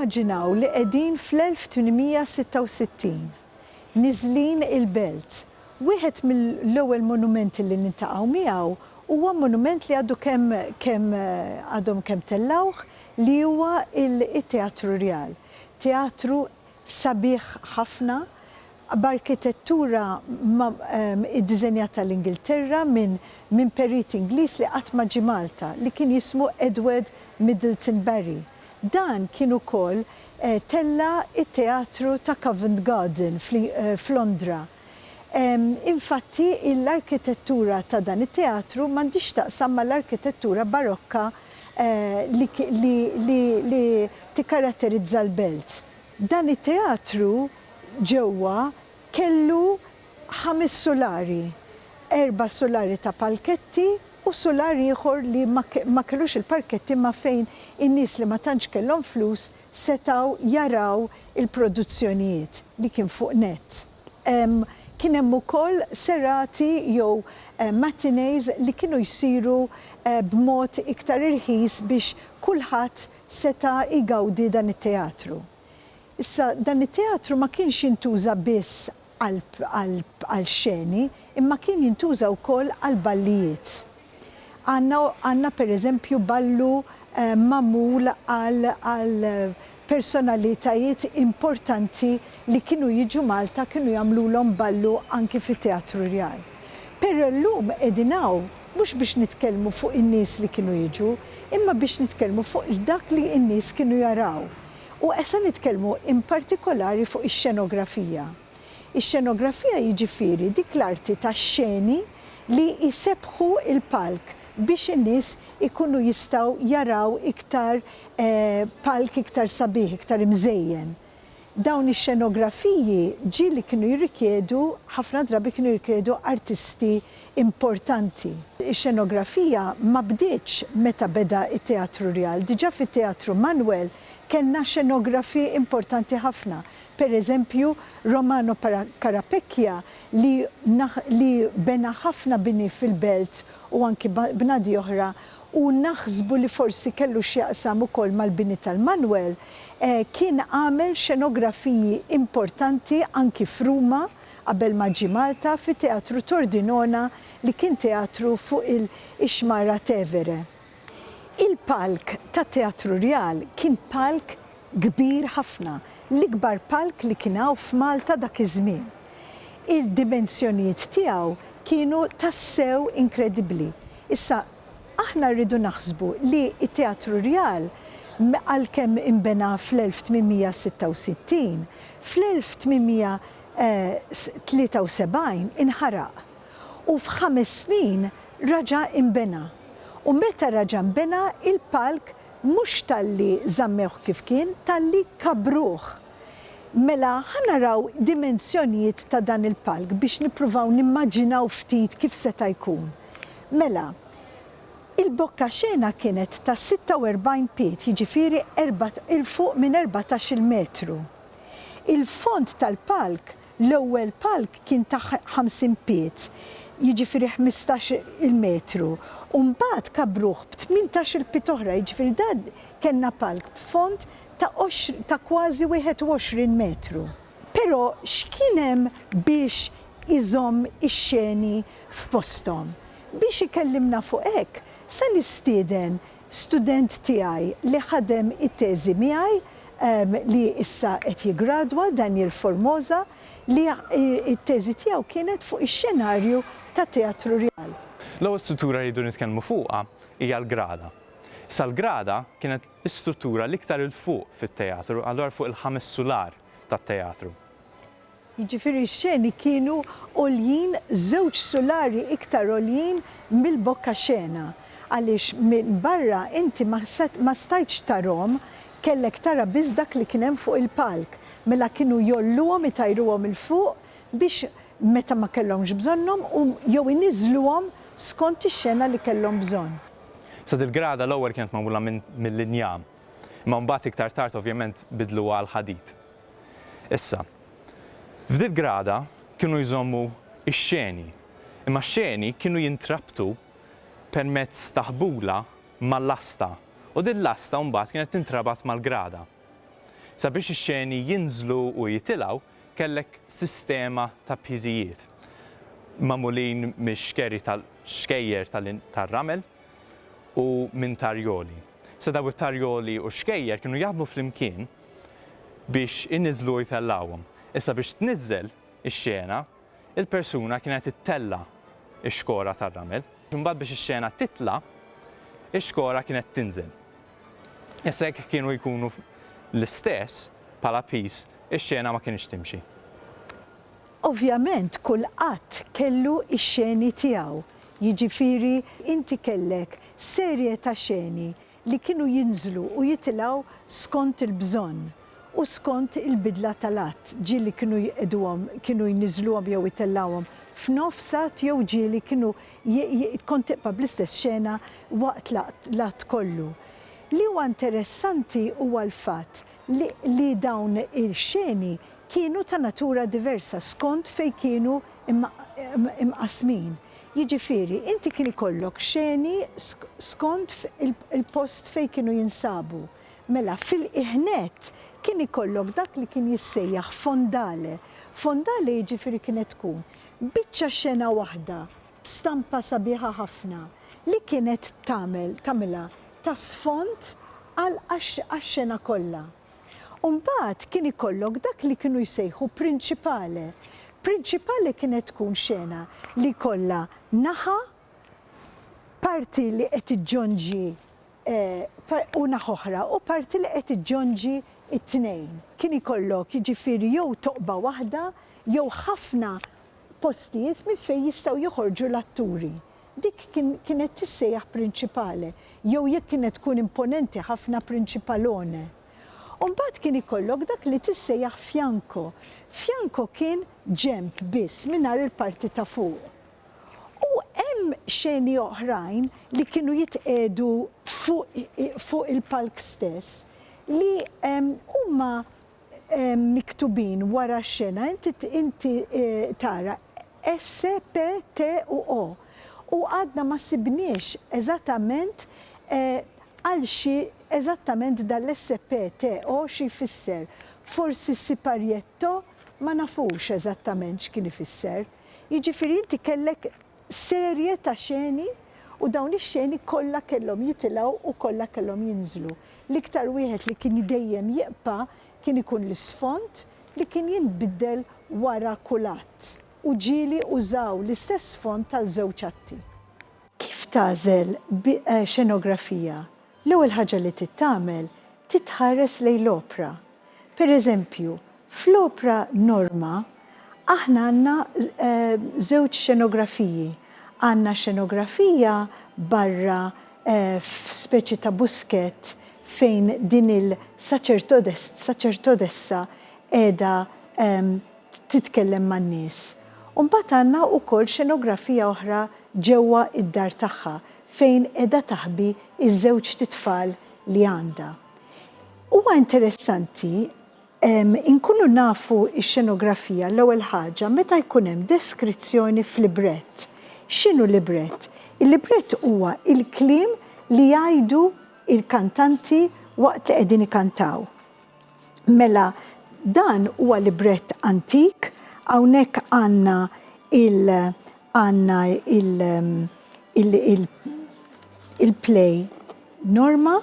Immaġinaw li qegħdin fl-1866. Niżlin il-belt. Wieħed mill-ewwel monumenti li niltaqgħu miegħu huwa monument li għadu kemm kemm għadhom kemm tellgħuh li huwa it-Teatru Rjal. Teatru Sabiħ ħafna, b'arkitettura iddiżenjata l-Ingilterra minn perit Ingliż li qatt ma ġie Malta, li kien jismu Edward Middleton Barry. Dan kien ukoll tella' it-teatru ta' Covent Garden f'Londra. Infatti, l-arkitettura ta' dan it-teatru m'għandhiex x'taqsam mal-arkitettura barokka li tikkaratterizza l-belt. Dan it-teatru ġewwa kellu ħames sulari, erba' sulari ta' palketti u sular ieħor li ma kellux il-parketti imma fejn in-nies li ma tantx kellhom flus setgħu jaraw il-produzzjonijiet li kien fuq nett. Kien hemm ukoll serati jew matinees li kienu jsiru b'mod iktar irħis biex kulħadd seta' jgawdi dan it-teatru. Issa dan it-teatru ma kienx jintuża biss għal xeni imma kien jintuża wkoll għall-ballijiet. Għandna pereżempju ballu magħmul għal personalitajiet importanti li kienu jiġu Malta kienu jagħmlulhom ballu anki fit-Teatru Rjal. Però llum qegħdin hawn mhux biex nitkellmu fuq in-nies li kienu jiġu imma biex nitkellmu fuq dak li n-nies kienu jaraw. U se nitkellmu in partikolari fuq ix-xenografija. Ix-xenografija jiġifieri dik l-arti tax-xeni li jsebbħu l-palk biex in-nies ikunu jistgħu jaraw iktar palk iktar sabiħ, iktar imżejjen. Dawn ix-xenografiji ġieli kienu jirrikjedu, ħafna drabi kienu jirrikjedu artisti importanti. Ix-xenografija ma bdietx meta beda t-Teatru Rjal. Diġà fit-Teatru Manwel kellna xenografi importanti ħafna. per eżempju, Romano Carapecchia li li bena ħafna bini fil-belt u anki bnadi oħra u naħsbu li forsi kellu x'jaqsam ukoll mal-bini tal-Manwel, kien għamel xenografiji importanti anki f'Ruma qabel ma ġie Malta fi Teatru Tordinona li kien teatru fuq il-Ixmara Tevere. Il-palk tat-Teatru Rjal kien palk kbir ħafna, l-ikbar palk li kien hawn f'Malta dak iż-żmien. Il-dimensjonijiet tiegħu kienu tassew inkredibbli. Issa, aħna rridu naħsbu li t-Teatru Rjal, għalkemm inbena fl-1866, fl-1873 inħaraq. u f'ħames snin raġa' inbena u meta raġa' nbena il-palk mhux talli żammewh kif kien talli kabbruh. Mela ħa naraw dimensjonijiet ta' dan il-palk biex nippruvaw nimmaġinaw ftit kif seta' jkun. Mela, il-bokkaxena kienet ta' 46 pied jiġifieri 'l fuq minn erbatax-il metru. Il-fond tal-palk L-ewwel palk kien ta' ħamsin pied, jiġifieri ħmistax il-metru, u mbagħad kabbruh b'tmintax-il pied oħra, jiġifieri dan kellna palk b'fond ta' ta' kważi wieħed u għoxrin metru. Però x'kien hemm biex iżomm ix-xeni f'posthom? Biex ikellimna fuq hekk, se nistieden Student tiegħi li ħadem it-teżi miegħi li issa qed jiggradwa, Daniel Formosa, li t-teżi tiegħu kienet fuq ix-xenarju ta' Teatru Rjal. L-ewwel struttura li rridu nitkellmu fuqha hija l-grada. Sa l-grada kienet l-istruttura l-iktar 'il fuq fit-teatru, allura fuq il-ħames sular tat-teatru. jiġifieri x-xeni kienu għoljin żewġ sulari iktar għoljin mill-bokka xena, għaliex minn barra inti ma stajtx tarahom, kellek tara biss dak li kien hemm fuq il-palk, mela kienu jgħolluhom itajruhom 'il fuq biex meta ma kellhomx bżonnhom u jew iniżżluhom skont ix-xena li kellhom bżonn. Sa dil-grada l-ewwel kienet magħmula mill-injam, imma mbagħad iktar tard ovvjament biddluha għall-ħadid. Issa, f'dil-grada kienu jżommu x-xeni, imma x-xeni kienu jintrabtu permezz ta' ħbula ma' lasta u din lasta mbagħad kienet tintrabat mal-grada. Sabiex ix-xeni jinżlu u jitilgħu kellek sistema ta' piżijiet magħmulin mix-xkeri ta' xkejjer tar-ramel u minn tarjoli. Issa daw it-tarjoli u x-xkejjer kienu jaħdmu flimkien biex iniżżlu u jtellgħuhom. Issa biex tniżżel ix-xena, il-persuna kienet ittella' x-xkora tar-ramel. Imbagħad biex ix-xena titla', ix-xkora kienet tinżel. Issa jekk kienu jkunu l-istess bħala piż, ix-xena ma kinitx timxi. Ovvjament kull att kellu x-xeni tiegħu, jiġifieri inti kellek serje ta' xeni li kienu jinżlu u jitilgħu skont il-bżonn u skont il-bidla tal-għadd, ġieli kienu jqiegħduhom, kienu jniżżluhom jew itellgħuhom f'nofs għadd jew ġieli kienu kont tibqa' bl-istess xena waqt l-għadd kollu. Li huwa interessanti huwa l-fatt li dawn ix-xeni kienu ta' natura diversa skont fejn kienu imqassmin. Jiġifieri, inti kien ikollok xeni skont il-post fejn kienu jinsabu. Mela, fil-qiegħ nett, kien ikollok dak li kien jissejjaħ fondale. Fondale jiġifieri kienet tkun biċċa xena waħda b'stampa sabiħa ħafna li kienet tagħmel, tagħmilha ta' sfond għax-xena kollha. U mbagħad kien ikollok dak li kienu jsejħu principale. Principale kienet tkun xena li jkollha naħa parti li qed iġġonġi u naħa oħra u parti li qed iġġonġi t-tnejn. Kien ikollok jiġifieri jew toqba waħda jew ħafna postijiet minn fejn jistgħu joħorġu l-atturi. Dik kienet tissejjaħ prinċipale, jew jekk kienet tkun imponenti ħafna prinċipalone. U mbagħad kien ikollok dak li tissejjaħ fianco. Fianco kien ġenb biss, mingħajr il-parti ta' fuq. U hemm xeni oħrajn li kienu jitqiegħdu fuq il-palk stess li huma miktubin wara x-xena inti inti tara S, P, T u O. U għadna ma sibniex eżattament għal xi eżattament dan l-S, P, T, O xi jfisser. Forsi s-siparietto ma nafux eżattament x'kien ifisser. Jiġifieri inti kellek serje ta' xeni u dawn ix-xeni kollha kellhom jitilgħu u kollha kellhom jinżlu. L-iktar wieħed li kien dejjem jibqa' kien ikun l-isfond li kien jinbiddel wara kull att u ġieli użaw l-istess sfond għal żewġ atti. Kif tagħżel xenografija L-ewwel ħaġa li trid tagħmel trid tħares lejn l-opra. Per eżempju, fl-opra Norma aħna għandna żewġ xenografiji. Għandna xenografija barra f'speċi ta' buskett fejn din il-saċertodessa qiegħda titkellem man-nies. U mbagħad għandna wkoll xenografija oħra ġewwa d-dar tagħha fejn qiegħda taħbi ż-żewġt itfal li għandha. Huwa interessanti inkunu nafu x-xenografija l-ewwel ħaġa meta jkun hemm deskrizzjoni f'librett. X'inhu librett? Il-librett huwa l-kliem li jgħidu l-kantanti waqt li qegħdin ikantaw. Mela dan huwa librett antik, hawnhekk għandna il għandna il il il il-play Norma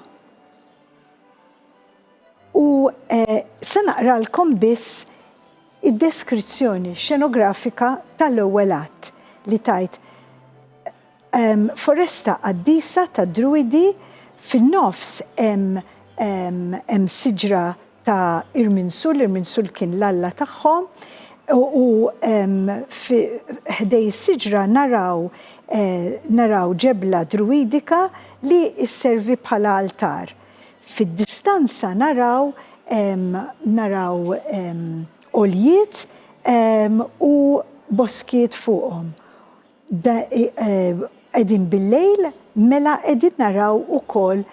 u se naqralkom biss id-deskrizzjoni xenografika tal-ewwel att li tgħid, Foresta qaddisa tad-Druidi, fin-nofs hemm siġra ta' Irminsul, Irminsul kien l-alla tagħhom, u ħdej is-siġra naraw ġebla Druidika li sservi bħala altar. Fid-distanza naraw għoljiet u boskiet fuqhom. Da qegħdin bil-lejl mela qegħdin naraw ukoll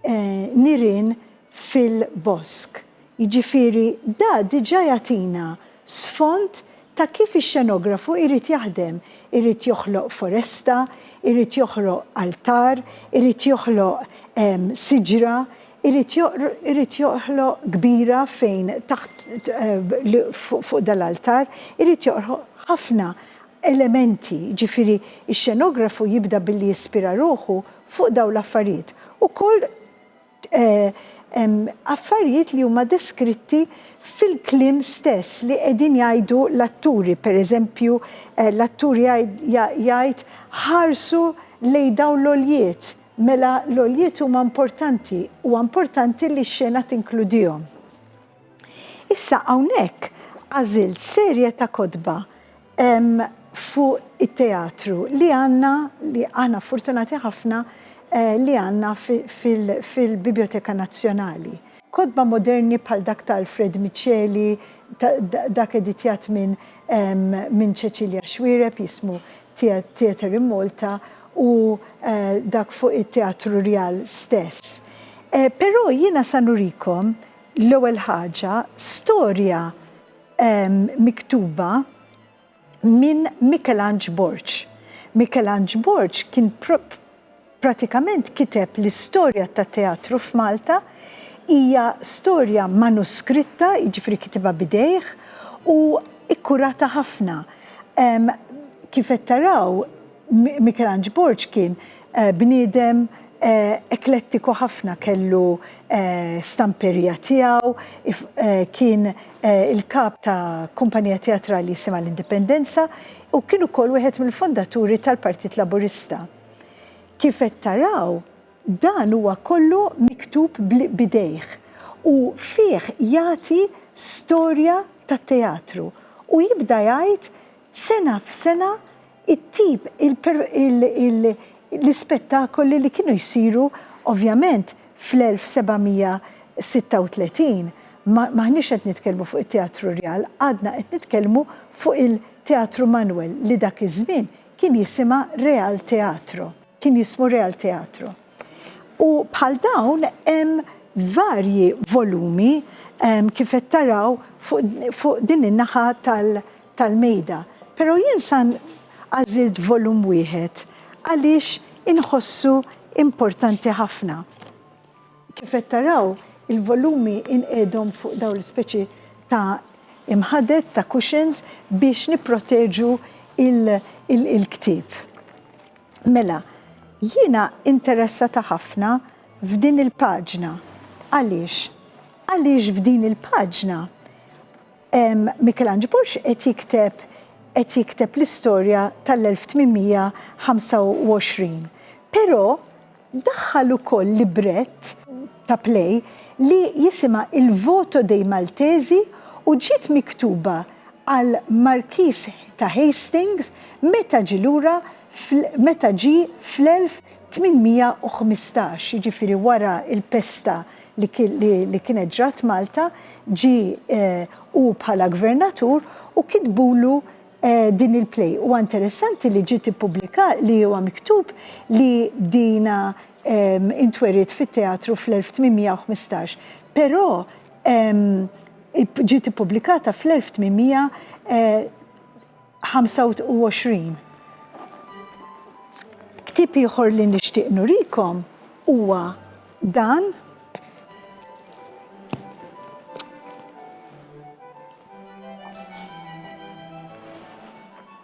nirien fil-bosk. Jiġifieri da diġà jagħtina sfond ta' kif ix-xenografu jrid jaħdem, irid joħloq foresta, irid joħloq altar, irid joħloq siġra, irid joħloq kbira fejn taħt fuq dal-altar, irid joħloq ħafna elementi, jiġifieri x-xenografu jibda billi jispira ruħu fuq dawn l-affarijiet. Ukoll hemm affarijiet li huma deskritti fil-kliem stess li qegħdin jgħidu l-atturi, pereżempju l-attur jgħid ħarsu lejn dawn l-għoljiet, mela l-għoljiet huma importanti, huwa importanti li x-xena tinkludihom. Issa hawnhekk għażilt serje ta' kotba fuq it-teatru li għandna, li aħna fortunati ħafna li għandna fil-Bibjoteka Nazzjonali. Kotba moderni bħal dak ta' Alfred Miceli, dak editjat minn Cecilia Xuereb jismu Theatre in Malta u dak fuq it-Teatru Rjal stess. Però jiena sa nurikom L-ewwel ħaġa, storja miktuba minn Mikelanġ Borg. Mikelanġ Borg kien pratikament kiteb l-istorja tat-teatru f'Malta, hija storja manuskritta, jiġifieri kitibha b'idejh u kkurata ħafna. Kif qed taraw, Mikelanġ Borg kien bniedem eklettiku ħafna, kellu stamperija tiegħu, kien il-kap ta' kumpanija teatrali jisimha l-Indipendenza u kien ukoll wieħed mill-fondaturi tal-Partit Laburista. Kif qed taraw, dan huwa kollu miktub b'idejh u fih jagħti storja tat-teatru u jibda jgħid sena f'sena it-tip, l-ispettakoli li kienu jsiru ovvjament fl-1736, m'aħniex qed nitkellmu fuq it-Teatru Rjal, għadna qed nitkellmu fuq il-Teatru Manwel li dak iż-żmien kien jisimha Real Teatro, kien jismu Real Teatro. U bħal dawn hemm varji volumi kif qed taraw fuq din in-naħa tal-, tal-mejda, pero' jien sa għażilt volum wieħed għaliex inħossu importanti ħafna. Kif qed taraw il-volumi inqiegħdhom fuq dawn l-ispeċi ta' imħaded, ta' cushions, biex nipproteġu il-ktieb. Mela, jiena interessata ħafna f'din il-paġna. Għaliex? Għaliex f'din il-paġna, Mikelanġ Borg qed jikteb qed jikteb l-istorja tal-1825, però daħħal ukoll librett ta' play li jisimha Il voto dei Maltesi u ġiet miktuba għal Markiż ta' Hastings meta ġie lura meta ġie fl-1815, jiġifieri wara l-pesta li kienet ġrat Malta, ġie hu bħala gvernatur u kitbulu din il-play. Huwa interessanti li ġiet ippubblika li huwa miktub li dina intweriet fit-teatru fl-1815, però ġiet ippubblikata fl-1825. Ktieb ieħor li nixtieq nurikom huwa Dan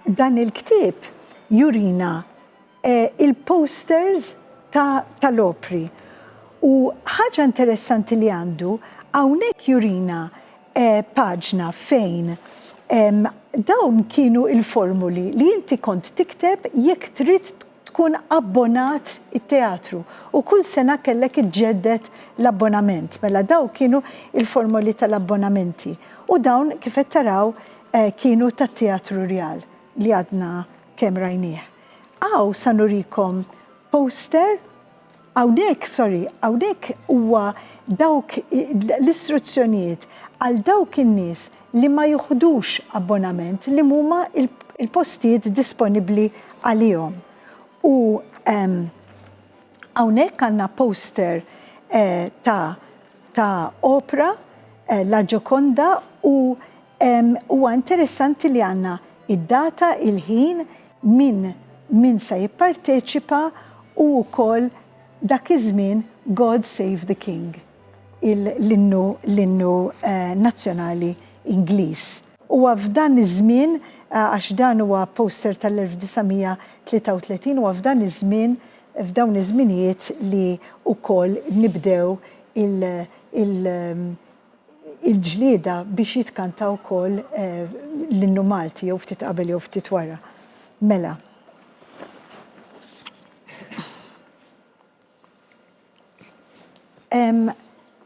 dan il-ktieb jurina eh, il-posters tal-opri. U ħaġa interessanti li għandu, hawnhekk jurina eh, paġna fejn dawn kienu il-formuli li inti kont tikteb jekk trid tkun abbonat it-teatru u kull sena kellek iġġedded l-abbonament. Mela dawk kienu il-formoli tal-abbonamenti u dawn kif qed taraw kienu tat-Teatru Rjal li għadna kemm rajnieh. Hawn sa nurikom poster Hawnhekk, sorry, hawnhekk huwa dawk l-istruzzjonijiet għal dawk in-nies li ma joħdux abbonament li huma l-postijiet disponibbli għalihom. U hawnhekk għandna poster ta' ta' opra La Gioconda u Huwa interessanti li għandna id-data, il-ħin, min min se jipparteċipa u wkoll dak iż-żmien God Save the King, l-innu l-innu nazzjonali Ingliż. Huwa f'dan iż-żmien, għax dan huwa poster tal-1933, huwa f'dan iż-żmien, f'dawn iż-żminijiet li wkoll nibdew il, il, il-ġlieda biex jitkanta wkoll l-innu Malti jew ftit qabel jew ftit wara. Mela.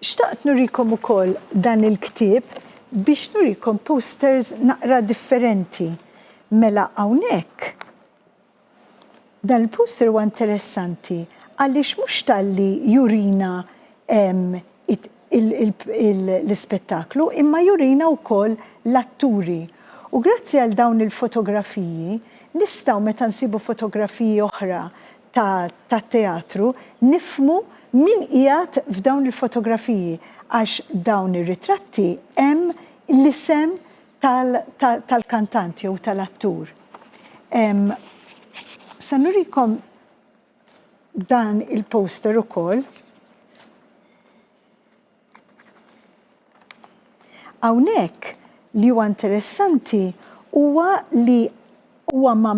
Xtaqt nurikom ukoll dan il-ktieb biex nurikom posters naqra differenti. Mela hawnhekk Dan il-poster huwa interessanti għaliex mhux talli jurina l-ispettaklu imma jurina wkoll l-atturi. U grazzi għal dawn il-fotografiji nistgħu meta nsibu fotografiji oħra tat-teatru nifhmu min qiegħed f'dawn il-fotografiji għax dawn ir-ritratti hemm l-isem tal-kantant jew tal-attur. Se nurikom dan il-poster ukoll. Hawnhekk li huwa interessanti huwa li Huwa ma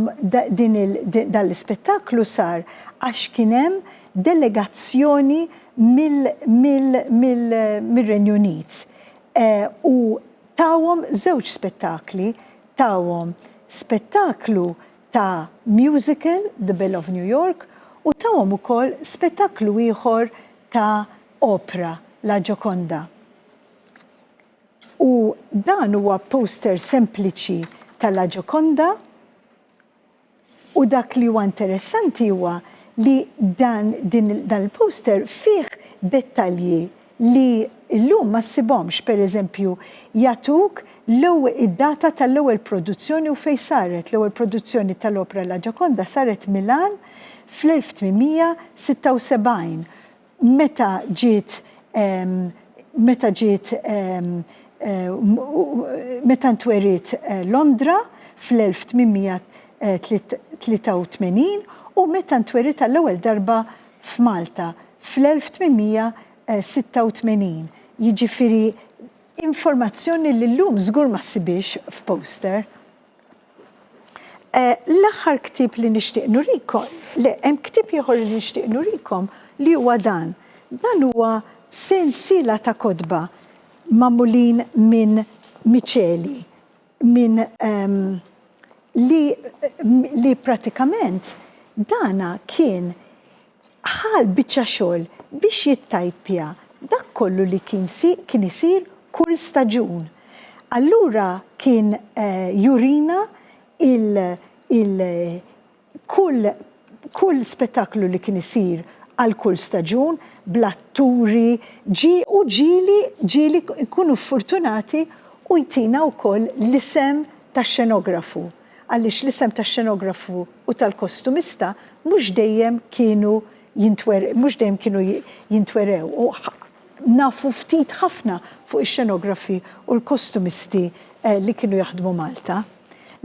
din il dan l-ispettaklu sar għax kien hemm delegazzjoni mill mill mill mir-Renju Unit u tawhom żewġ spettakli, tawhom spettaklu ta' musical, The Belle of New York, u tawhom ukoll spettaklu ieħor ta' opra, La Gioconda. U dan huwa poster sempliċi ta' La Gioconda u dak li huwa interessanti huwa li dan il-poster fih dettalji li llum ma ssibhomx, per eżempju, jagħtuk id-data tal-ewwel produzzjoni u fejn saret. L-ewwel produzzjoni tal-opra La Gioconda saret Milan fl-1876. Meta ġiet meta ġiet meta ntweriet Londra fl-1883 u meta ntweriet għall-ewwel darba f'Malta fl-1886. Jiġifieri informazzjoni li llum żgur ma ssibhiex f'poster. Eh, l-aħħar ktieb li nixtieq nurikom, le, hemm ktieb ieħor li nixtieq nurikom li huwa dan. Dan huwa sensiela ta' kotba magħmulin minn miċeli, minn ehm, li, li pratikament dana kien Ħa l-biċċa xogħol biex jittajpja dak kollu li kien isir kull staġun. Allura kien jurina kull spettaklu li kien isir għal kull staġun bl-atturi, ġie u ġieli ġieli jkunu ffortunati u jtina wkoll l-isem tax-xenografu. għaliex l-isem tax-xenografu u tal-kostumista mhux dejjem kienu mhux dejjem kienu jintwerew u nafu ftit ħafna fuq ix-xenografi u l-kostumisti li kienu jaħdmu Malta.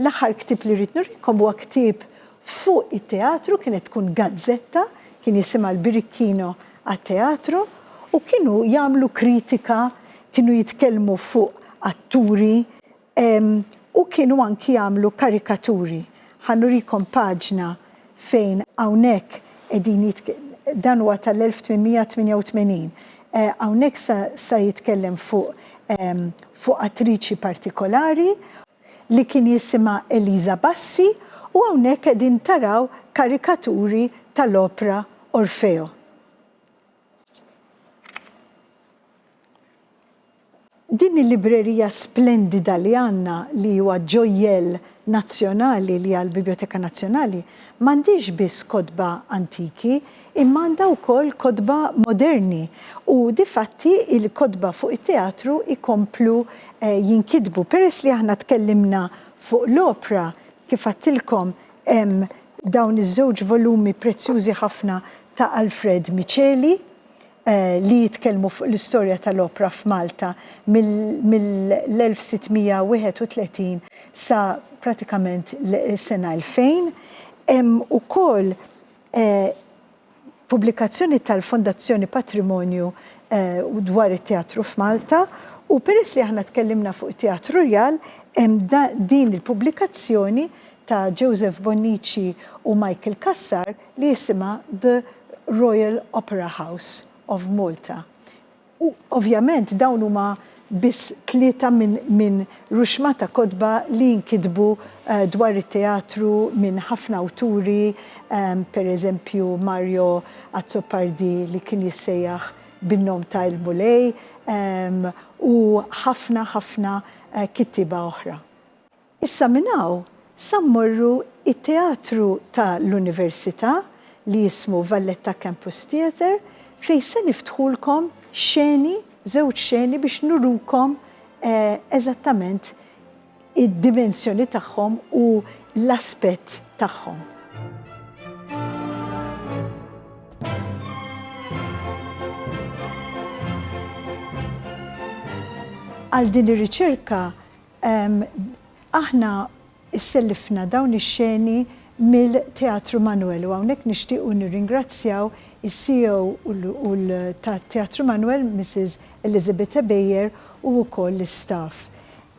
L-aħħar ktieb li rrid nurikom huwa ktieb fuq it-teatru, kienet tkun gazzetta, kien jisimha l-Birikkino għat-Teatru u kienu jagħmlu kritika, kienu jitkellmu fuq atturi, U kienu anki jagħmlu karikaturi. Ħa nurikom paġna fejn hawnhekk qegħdin jitk-, dan huwa tal-1888. Hawnhekk sa, sa jitkellem fuq, fuq attriċi partikolari li kien jisimha Eliża Bassi u hawnhekk qegħdin taraw karikaturi tal-opra Orfeo. Din il-librerija splendida li għandna li huwa ġojjell nazzjonali li hija l-Bibljoteka Nazzjonali m'għandhiex biss kotba antiki imma għandha wkoll kotba moderni u difatti l-kotba fuq it-teatru jkomplu jinkitbu. Peress li aħna tkellimna fuq l-opra, kif għedtilkom, Hemm dawn iż-żewġ volumi prezzjużi ħafna ta' Alfred Miceli li jitkellmu fuq l-istorja tal-opra f'Malta mill-1631 sa pratikament is-sena 2000. Hemm ukoll pubblikazzjoni tal-Fondazzjoni Patrimonju dwar it-teatru f'Malta u peress li aħna tkellimna fuq it-Teatru Rjal hemm din il-pubblikazzjoni ta' Joseph Bonnici u Michael Cassar li jisimha The Royal Opera House of Malta U ovvjament dawn huma biss tlieta minn ruxma ta' kotba li nkitbu dwar it-teatru minn ħafna awturi, per eżempju Mario Azzopardi li kien jissejjaħ bin-nom ta' Il-Mulej, u ħafna ħafna kittieba oħra. Issa minn hawn sa mmorru it-teatru ta' l-Università li jismu Valletta Campus Theatre fejn se niftħulkom xeni, żewġ xeni biex nurukom eżattament id-dimensjoni tagħhom u l-aspett tagħhom. Għal din ir-riċerka Aħna sellifna dawn ix-xeni mill-Teatru Manoel u hawnhekk nixtiequ nirringrazzjaw is-CEO u l ta' Teatru Manoel, Missis Elizabeth Ebejer u wkoll l-istaff.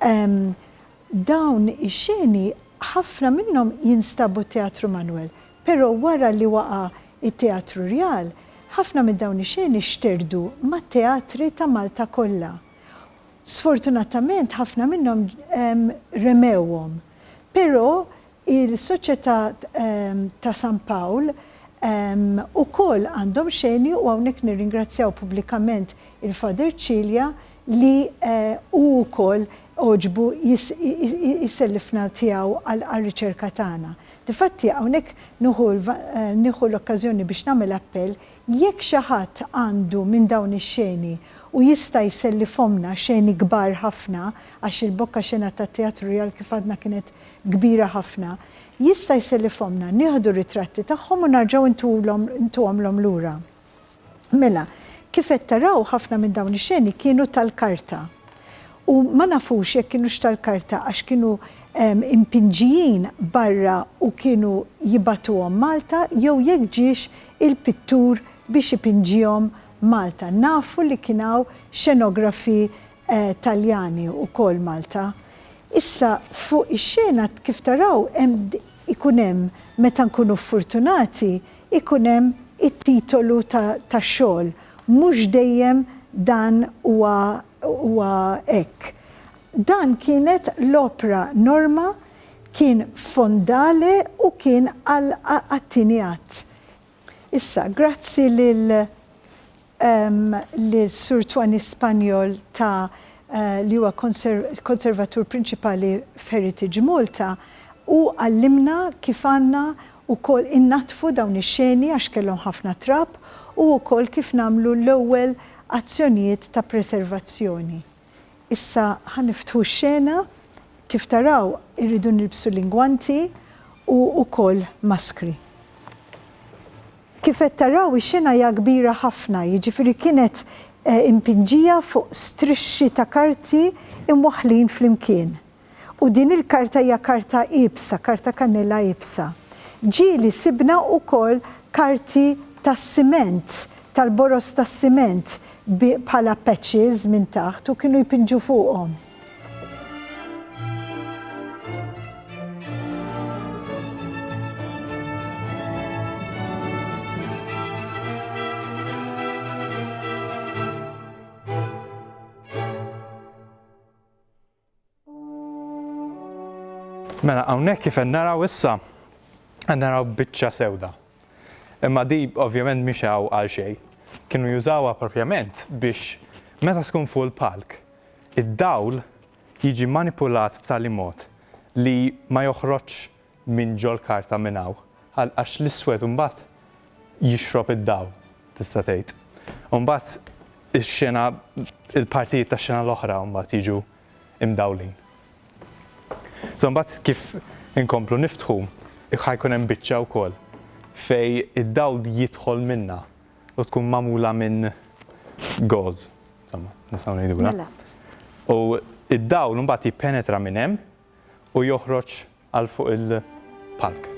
Dawn ix-xeni ħafna minnhom jinstabu t-Teatru Manoel, però wara li waqa' it-Teatru Rjal, ħafna minn dawn ix-xeni xterdu mat-teatri ta' Malta kollha. Sfortunatament ħafna minnhom remewhom, però il-Soċjetà ta' San Pawl ukoll għandhom x'eni u hawnhekk nirringrazzjaw pubblikament il-Father Cilia li hu wkoll għoġbu jsellifna tiegħu għar-riċerka tagħna. Difatti hawnhekk nieħu l-okkażjoni biex nagħmel appell Jekk xi ħadd għandu minn dawn ix-xeni u jista' jsellifhomlna, xeni kbar ħafna, għax il-Bocca xena tat-Teatru Rjal kif għadna kienet kbira ħafna, jista' jsellifhomlna, nieħdu ritratti tagħhom u narġgħu ntulhom, ntuhomlhom lura. Mela, kif qed taraw ħafna minn dawn ix-xeni kienu tal-karta. U ma nafux jekk kinux tal-karta għax kienu impinġijin barra u kienu jibagħtuhom Malta jew jekk ġiex il-pittur biex ipinġihom Malta. Nafu li kien hawn xenografi Taljani wkoll Malta. Issa fuq ix-xena kif taraw hemm ikun hemm meta nkunu furtunati ikun hemm it-titolu tax-xogħol. Mhux dejjem dan huwa huwa hekk. Dan kienet l-opra Norma kien fondale u kien għat-tieni att. Issa, grazzi lil Sur Twanny Spanjol ta' li huwa Konservatur Prinċipali f'Heritage Malta, hu għallimna kif għandna wkoll innaddfu dawn ix-xeni għax kellhom ħafna trab u wkoll kif nagħmlu l-ewwel azzjonijiet ta' preservazzjoni. Issa ħa niftħu x-xena, kif taraw irridu nilbsu l-ingwanti u ukoll maskri. Kif qed taraw ix-xena hija kbira ħafna, jiġifieri kienet impinġija fuq strixxi ta' karti imwaħħlin flimkien. U din il-karta hija karta iebsa, karta kannella iebsa. Ġieli sibna wkoll karti tas-siment, tal-boroż tas-siment bi bħala patches minn taħt u kienu jpinġu fuqhom. Mela hawnhekk kif qed naraw issa qed naraw biċċa sewda. Imma di ovvjament mhix hawn għal xejn. Kienu jużawha propjament biex meta tkun fuq il-palk, id-dawl jiġi manipulat b'tali mod li ma joħroġx minn ġol-karta minn hawn għal għax l-iswed imbagħad jixrob id-dawl tista' tgħid. U mbagħad ix-xena il-partijiet tax-xena l-oħra mbagħad jiġu imdawlin. So mbagħad kif inkomplu niftħu ħa jkun hemm biċċa wkoll fej id-dawl jidħol minnha u tkun magħmula minn gauze. Insomma, nistgħu ngħidulha. Mela. U id-dawl mbagħad jippenetra minn hemm u joħroġ Għal fuq il-palk.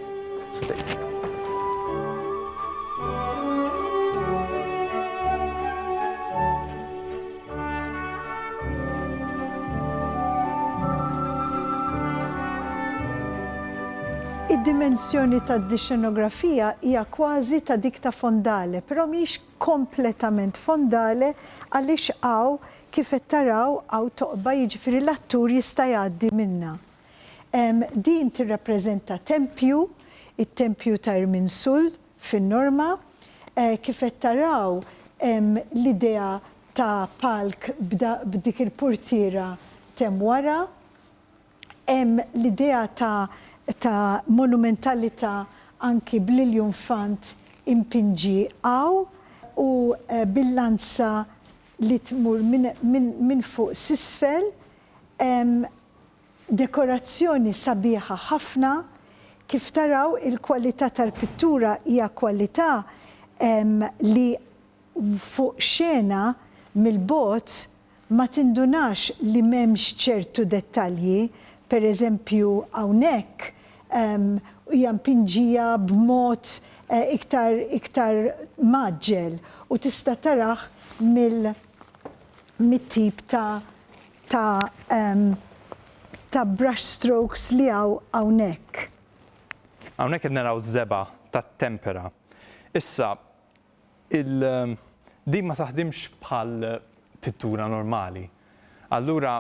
Id-dimensjoni tad-dixxenografija hija kważi ta' dik ta' fondale, però mhijiex kompletament fondale għaliex hawn, kif qed taraw, hawn toqba, jiġifieri l-attur jista' jgħaddi minnha. Din tirrappreżenta tempju, it-tempju ta' Irminsul fin-Norma. Kif qed taraw hemm l-idea ta' palk b'dik il-purtiera t'hemm wara. Hemm l-idea ta' monumentalita' anki bl-iljunfant impinġi hawn u bil-lanza li tmur minn fuq s'isfel. Dekorazzjoni sabiħa ħafna, kif taraw il-kwalità tal-pittura hija kwalità li fuq xena mill-bogħod ma tindunax li m'hemmx ċertu dettalji, per eżempju hawnhekk hija mpinġija b'mod iktar iktar mgħaġġel u tista' tarah mill. mit-tip ta' ta' ta' brush strokes li hawn hawnhekk. Hawnhekk qed naraw żebgħa tat-tempera. Issa, il, din ma taħdimx bħal pittura normali. Allura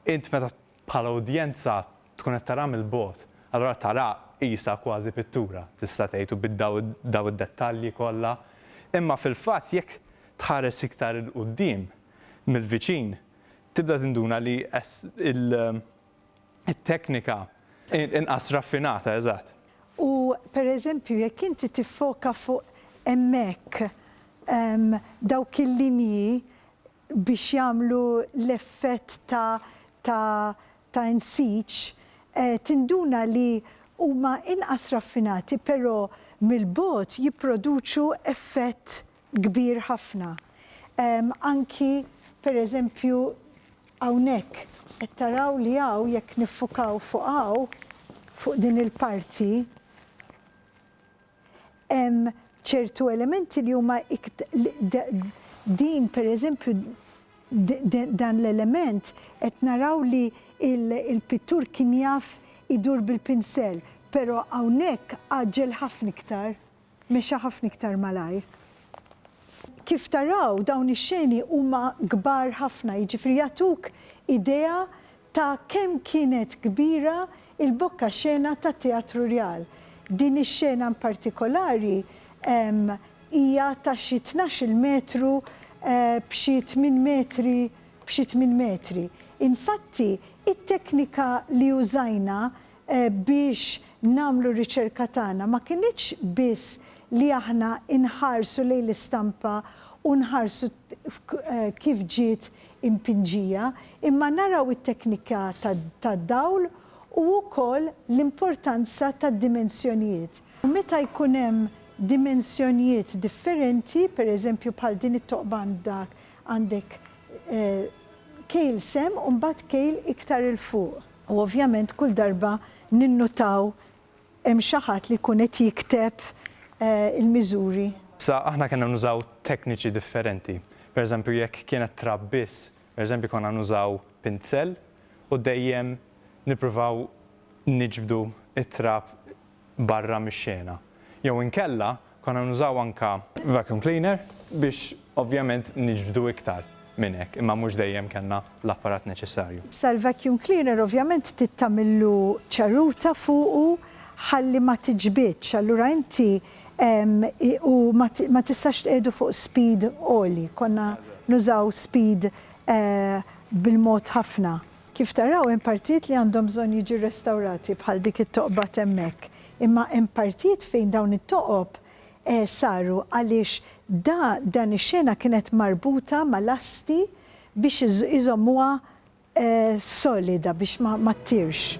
int meta Bħala udjenza tkun qed taraha mill-bogħod, allura taraha qisha kważi pittura tista' tgħid u bid-dawl daw id-dettalji kollha. Imma fil-fatt jekk tħares iktar 'il quddiem mill-viċin tibda tinduna li it-teknika inqas raffinata, eżatt. U pereżempju jekk inti tiffoka fuq hemmhekk dawk il-linji biex jagħmlu l-effett ta' ta' ta' insiġ, tinduna li huma inqas raffinati però mill-bogħod jipproduċu effett kbir ħafna. Anki pereżempju hawnhekk qed taraw li hawn jekk niffukaw fuq hawn, fuq din il-parti, hemm ċertu elementi li huma din pereżempju dan l-element qed naraw li l-pittur kien jaf idur bil-pinsell, però hawnhekk għaġġel ħafna iktar, mexa ħafna iktar malajr. Kif taraw dawn ix-xeni huma kbar ħafna, jiġifieri jagħtuk idea Ta' kemm kienet kbira il-bokka xena tat-Teatru Rjal. Din ix-xena in partikolari hija ta' xi tnax-il metru b'xi tmien metri b'xi tmien metri. Infatti, it-teknika li użajna biex nagħmlu r-riċerka tagħna ma kinitx biss li aħna nħarsu lejn l-istampa u nħarsu kif ġiet impinġija, imma naraw it-teknika tad-dawl u wkoll l-importanza tad-dimensjonijiet. U meta jkun hemm dimensjonijiet differenti, pereżempju bħal din it-toqba għandha għandek kejl sehem u mbagħad kejl iktar 'il fuq. U ovvjament kull darba ninnutaw hemm xi ħadd li jkun qed jikteb il-miżuri. Sa aħna kellna nużaw tekniċi differenti. Per eżempju jekk kienet trab biss, per eżempju konna nużaw pinzell u dejjem nippruvaw niġbdu t-trab. barra mix-xena. Jew inkella konna nużaw anke vacuum cleaner biex ovvjament niġbdu iktar minn hekk imma mhux dejjem kellna l-apparat neċessarju. Issa l-vacuum cleaner ovvjament trid tagħmillu ċeruta fuqu ħalli ma tiġbidx allura inti u ma tistax tqiegħdu fuq speed għoli, konna nużaw speed bil-mod ħafna. Kif taraw hemm partijiet li għandhom bżonn jiġi rrestawrati bħal dik it-toqba t'hemmhekk, imma hemm partijiet fejn dawn it-toqob saru għaliex da dan ix-xena kienet marbuta ma' lasti biex iżommuha solida biex ma ma ttirx.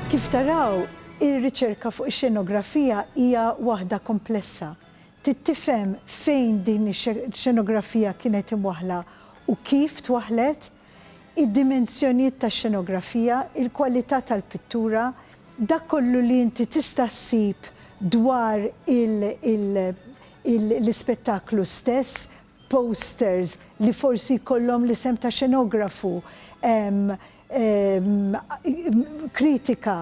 Kif taraw Ir-riċerka fuq ix-xenografija hija waħda komplessa. Trid tifhem fejn din ix-xenografija kienet imwaħħla u kif twaħħlet, id-dimensjonijiet tax-xenografija, il-kwalità tal-pittura, dak kollu li inti tista' ssib dwar l-ispettaklu stess, posters li forsi jkollhom l-isem ta' xenografu, kritika,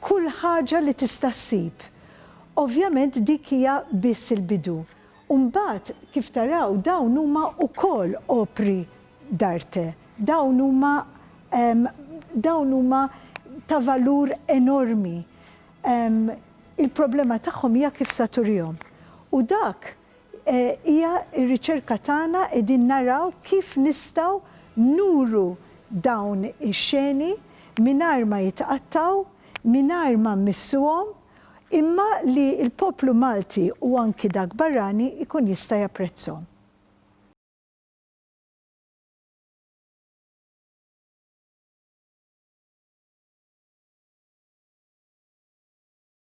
kull ħaġa li tista' ssib. Ovvjament dik hija biss il-bidu. U mbagħad kif taraw dawn huma wkoll opri d'arte, dawn huma dawn huma ta' valur enormi. Il-problema tagħhom hija kif sa turihom. U dak Hija r-riċerka tagħna qegħdin naraw kif nistgħu nuru dawn ix-xeni mingħajr ma jitqattgħu, mingħajr ma mmissuhom, imma li l-poplu Malti u anki dak barrani jkun jista' japprezzhom.